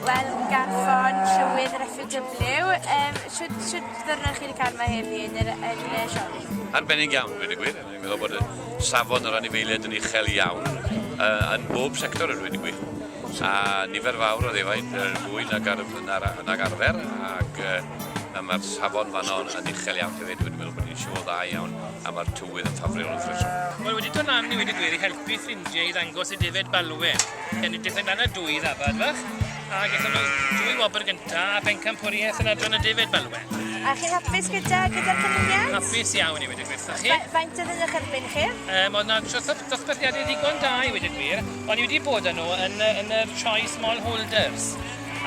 Wel garfon tywydd yr FUW yym shwd shwd ddiwrnod chi 'di ca'l ma' heddi yn yr yn y siop? Arbennig iawn dweud y gwir a fi'n meddwl bod y safon yr anifeiliaid yn uchel iawn yy yn bob sector a dweud y gwir a nifer fawr o ddefaid yy fwy nag ar na'r a- nag arfer ac yy a ma'r safon fanno yn yn uchel iawn hefyd wedyn meddwl bod ni'n siŵr dda iawn a ma'r tywydd yn ffafriol wrth reswm. Wel wedi do' lan i weud y gwir i helpu ffrindie i ddangos y defed balwen. Gen i diffyg lan y dwy ddafad fach, a gyda nhw dwy wobr gynta a bencampwriaeth yn adran y David Balwen. A chi'n hapus gyda gyda'r cynlludiad? Hapus iawn i wedi gweithio chi. Faint oedd yn eich erbyn chi? Um, oedd yna dosbarthiadau ddigon da i wedi gwir. O'n i wedi bod â nhw yn, yn yr Choi Small Holders.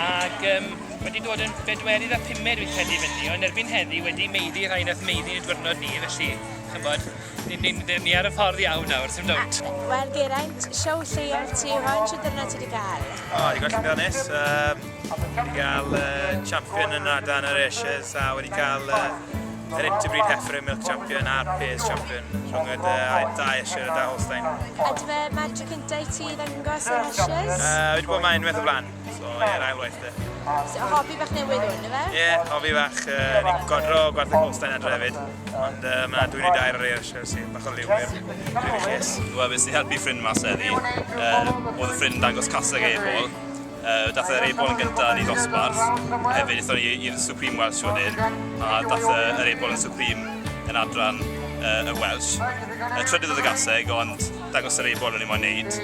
Ac um, wedi dod yn bedwerydd a pumed fi'n credu fyny, ond erbyn heddi wedi meiddi rhai nath meiddi yn y diwrnod ni, felly, chymod, Ni'n ni, ni, ni ar y ffordd iawn nawr, ti'n dod? Wel, Geraint, siow lleol ti, faint o dyrna ti wedi cael? O, oh, i gael llywio nes. Um, wedi cael uh, champion yn rada yn yr Ashes a wedi cael uh, yr Interbreed Heifer Milk Champion a'r Pairs Champion rhwng y dau Asher a da Holstein. A dwi fe magic cyntaf i ti ddangos yn Ashes? Uh, wedi bod mae'n unwaith o flan. So, ie, yeah, ail waith de. So, hobi bach newydd hwn, efe? Ie, yeah, hobi bach. Uh, ni'n godro gwarth y Colstein adre hefyd. Ond uh, mae yna dwi'n ei dair ar eir eisiau sy'n bach o liw i'r cys. Wel, bys ni helpu ffrind mas eddi. Uh, oedd y ffrind dangos caseg ei bol. Uh, dath yr ei bol yn gyntaf yn ei ddosbarth. Hefyd, eithon ni i'r Supreme Welsh wedyn. A dath yr ei bol yn Supreme yn adran uh, y Welsh. Uh, trydydd oedd y gaseg, ond dangos yr ei bol o'n i'n mo'n neud.